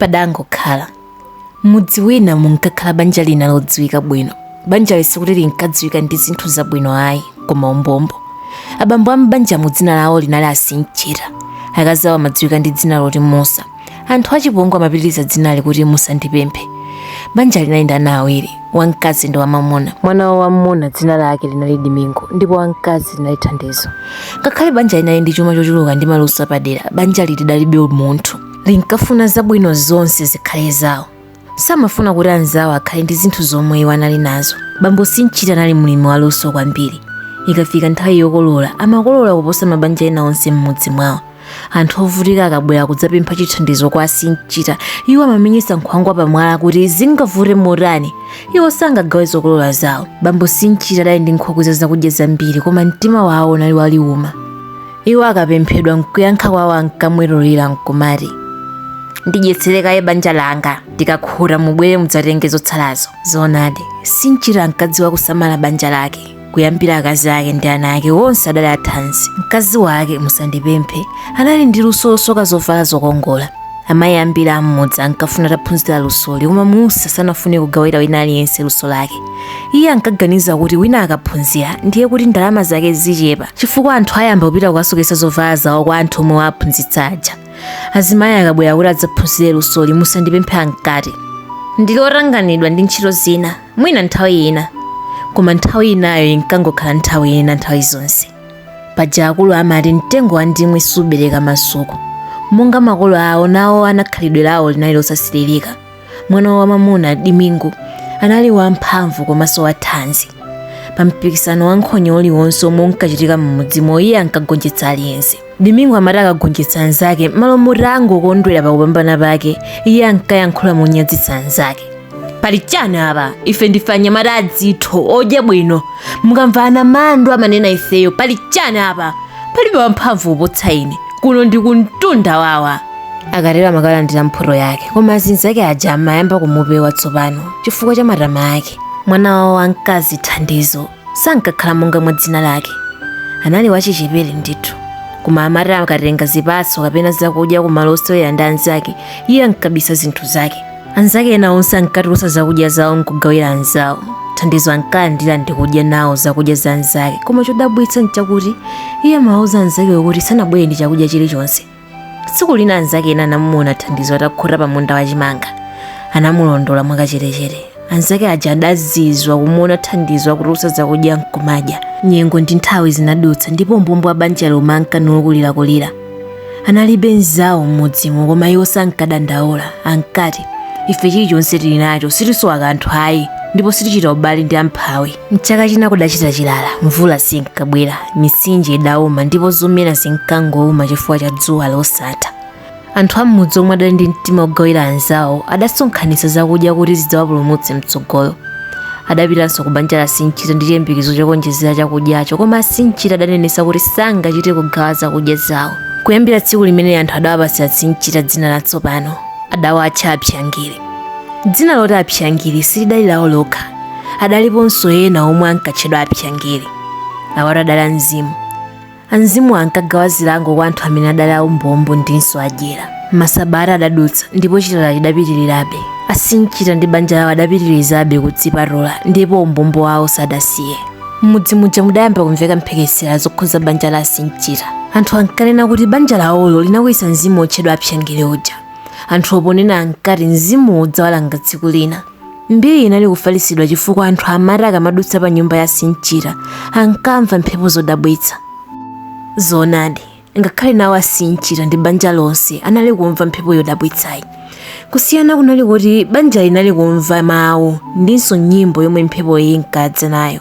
Padangokhala. M'mudzi wina munkakhala banja lina lodziwika bwino. Banjali sikuti linkadziwika ndi zinthu zabwino ayi, koma umbombo. Abambo a m'banjamo dzina lawo linali a Sinchita. Akazi awo amadziwika ndi dzina loti Musa. Anthu achipongwe amapitiriza dzinali kuti Musandipemphe. Banjali linali ndi ana awiri, wamkazi ndi wamwamuna. Mwana wawo wamwamuna dzina lake linali Dimingo ndipo wamkazi linali Thandizo. Ngakhale banjali linali ndi chuma chochuluka ndi maluso apadera, banjali lidalibe umunthu. linkafuna zabwino zonse zikhale zawo samafuna kuti anzawo akhale ndi zinthu zomwe iwo anali nazo bambo sinchita anali mlimi waluso kwambiri ikafika nthawi yokolola amakolola kuposa mabanja ena onse m'mudzi mwawo anthu ovutika akabwera kudzapempha chithandizo kwa sinchita iwo amamenyesa nkhwangwa pamwala kuti zingavute motani iwo sangagawe zokolola zawo bambo sinchita adali ndi nkhokwe za zakudya zambiri koma mtima wawo unali waliuma iwo akapemphedwa nkuyankha kwawo ankamwemwetulira nkumati ndidyetsere kaye banja langa ndikakhuta mubwere mudzatenge zotsalazo zoonadi sinchita ankadziwa kusamala banja lake kuyambira akazi ake ndi ana ake onse adali athanzi mkazi wake musandipemphe anali ndi luso losoka zovala zokongola Amayi ambiri a m'mudzi ankafuna ataphunzira lusoli koma Musa sanafune kugawira wina aliyense luso lake. Iye ankaganiza kuti wina akaphunzira ndiye kuti ndalama zake zichepa chifukwa anthu ayamba kupita kukasoketsa zovala zawo kwa anthu omwe waphunzitsa aja. Azimayi akabwera kuti adzaphunzire lusoli musandipemphe ankati. Ndili otanganidwa ndi ntchito zina, mwina nthawi ina. Koma nthawi inayo inkangokhala nthawi ina nthawi zonse. paja akulu amati mtengo wa mandimu subereka masuku monga makolo awo nawo ana khalidwe lawo linali losasiririka mwana wamwamuna dimingo anali wamphamvu komanso wathanzi pa mpikisano wa nkhonya uliwonse omwe unkachitika m'mudzimo iye ankagonjetsa aliyense Dimingo amati akagonjetsa anzake m'malo moti angokondwera pa kupambana kwake, iye ankayankhula monyadzitsa anzake. Pali chani apa? Ife ndife anyamata adzitho, odya bwino. Mukamva anamandwa amanena ifeyo, pali chani apa? Palibe wamphamvu kuposa ine. Kuno ndi kumtunda wawa. Akatero amakalandira mphoto yake, koma azinzake aja amayamba kumupewa tsopano chifukwa cha matama ake. Mwana wawo wamkazi Thandizo sankakhala monga mwa dzina lake anali wachichepere ndithu koma amati akatenga zipatso kapena zakudya ku malo osewera ndi anzake iye ankabisa zinthu zake anzake ena onse ankatulutsa zakudya zawo nkugawira anzawo thandizo ankalandira ndi kudya nawo zakudya za anzake koma chodabwitsa nchakuti iye amawauza anzakewo kuti sanabwere ndi chakudya chilichonse tsiku lina anzake ena anamuona thandizo atakhota pa munda wa chimanga anamulondola mwakachetechete anzake aja adazizwa kumuona thandizo akutulusa zakudya nkumadya nyengo ndi nthawi zinadutsa ndipo umbombo wa banjalo unkangokulirakulira analibe nzawo m'mudzimo koma iwo sankadandaula ankati ife chilichonse tili nacho sitisowa kanthu ayi ndipo sitichita ubale ndi amphawi M'chaka china kudachita chilala, mvula sinkabwera, mitsinje idauma ndipo zomera zinkangouma chifukwa cha dzuwa losatha. Anthu a m'mudzi omwe adali ndi mtima wogawira anzawo adasonkhanitsa zakudya kuti zidzawapulumutse mtsogolo. Adapitanso ku banja la Sinchita ndi chiyembekezo chokaonjezera chakudyacho koma a Sinchita adanenetsa kuti sangachite kugawa zakudya zawo. Kuyambira tsiku limeneli anthu adawapatsa Sinchita dzina latsopano. Adawatcha Apsyangiri. Dzina loti Apsyangiri silidali lawo lokha. Adaliponso ena omwe ankatchedwa Apsyangiri. Awatu adali amzimu. Amzimuwa ankagawa zilango kwa anthu amene adali aumbombo ndinso adyera. Masabata adadutsa ndipo chilala chidapitirirabe. Asinchita ndi banja lawo adapitirizabe kudzipatula ndipo umbombo wawo sadasiye. M'mudzi muja mudayamba kumveka mphekesera zokhudza banja la Asinchita. Anthu ankanena kuti banja lawolo linakwiyitsa mzimu wotchedwa Apsyangiri uja. Anthuwo ponena ankati mzimuwo udzawalanga tsiku lina. Mbiri inali kufalitsidwa chifukwa anthu amati akamadutsa pa nyumba ya Sinchita ankamva mphepo zodabwitsa. Zoonadi, ngakhale nawo a Sinchita ndi banja lonse anali kumva mphepo yodabwitsayi. Kusiyana kunali koti banjali linali kumva mawu ndinso nyimbo yomwe mphepoyi inkadza nayo.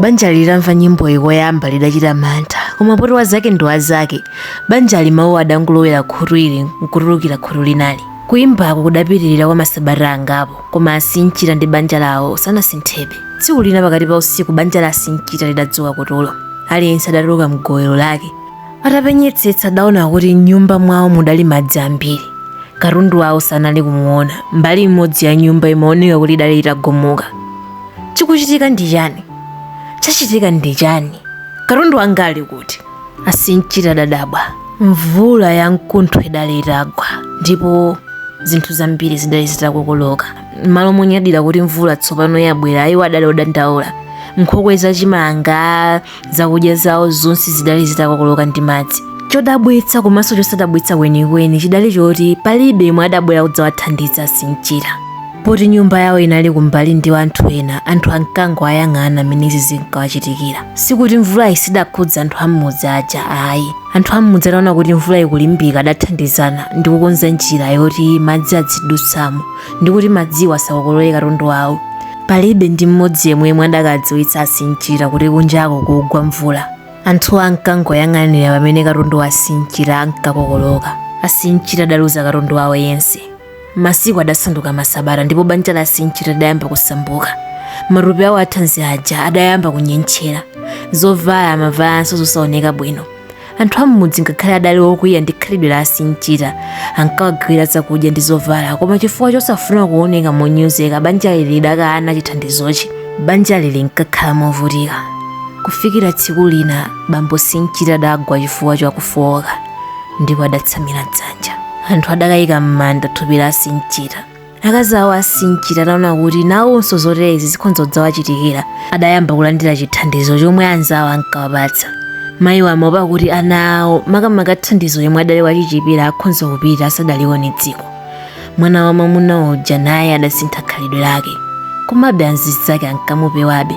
banjali litamva nyimboyi koyamba lidachita mantha koma poti wazake ndi wazake banjali mawuwo adangolowera khutu ili nkutulukira khutu linalo kuyimbako kudapitirira kwa masabata angapo koma asinchita ndi banja lawo sanasinthebe tsiku lina pakati pa usiku banja la asinchita lidadzuka kutulo aliyense adatuluka mgowero lake atapenyetsetsa adaona kuti m'nyumba mwawo mudali madzi ambiri katundu wawo sanali kumuona mbali imodzi ya nyumba imaoneka kuti idali itagumuka chikuchitika ndi chani chachitika ndi chani katundu wanga ali kuti asinchita adadabwa mvula ya mkuntho idali itagwa ndipo zinthu zambiri zidali zitakokoloka m'malo monyadira kuti mvula tsopano yabwera iwo adali odandaula nkhokwe za chimanga zakudya zawo zonse zidali zitakokoloka ndi madzi chodabwitsa komanso chosadabwitsa kwenikweni chidali choti palibe yemwe adabwera kudzawathandiza asinchita poti nyumba yawo inali kumbali ndi anthu ena anthu ankangowayang'ana mmene izi zinkawachitikira sikuti mvulayi sidakhudze anthu am'mudzi aja ayi anthu am'mudzi ataona kuti mvula ikulimbika adathandizana ndi kukonza njira yoti madzi adzidutsamo ndi kuti madziwo asakokolole katundu wawo Palibe ndi mmodzi yemwe yemwe adakadziwitsa Asinchita kuti kunja kukugwa mvula. Anthuwo ankangoyang'anira pamene katundu wa Asinchita ankakokoloka. Asinchita adaluza katundu wawo yense. Masiku adasanduka masabata ndipo banja la Asinchita lidayamba kusauka. Matupi awo athanzi aja adayamba kunyentchera. Zovala amavalanso zosaoneka bwino. anthu am'mudzi ngakhale adali okwiya ndi khalidwe la asinchita ankawagawira zakudya ndi zovala koma chifukwa chosafuna kuoneka monyozeka banjali lidakana chithandizochi banjali linkakhala movutika kufikira tsiku lina bambo sinchita adagwa chifukwa chakufowoka ndipo adatsamira dzanja anthu adakayika m'manda thupi la asinchita akazi awo asinchita ataona kuti nawonso zoterezi zikhonza kudzawachitikira adayamba kulandira chithandizo chomwe anzawo ankawapatsa mayiwo amaopa kuti ana awo makamaka thandizo yemwe adali wachichepere akhonza kupita asadalione dziko mwana wa mwamuna uja naye adasintha khalidwe lake komabe anzizake ankamupewabe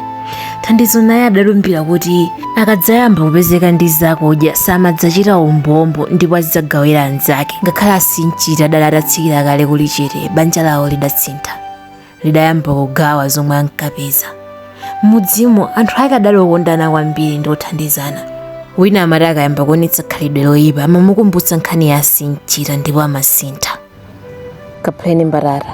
thandizo naye adalumbira kuti akadzayamba kupezeka ndi zakudya samadzachita umbombo ndipo azidzagawira anzake ngakhale asinchita adali atatsikira kale kuli chete banja lawo lidasintha lidayamba kugawa zomwe ankapeza m'mudzimo anthu ake adali okondana kwambiri ndi othandizana wina amati akayamba kuonetsa khalidwe loyipa amamukumbutsa nkhani ya asinchita ndipo amasintha kaphaleni mbatata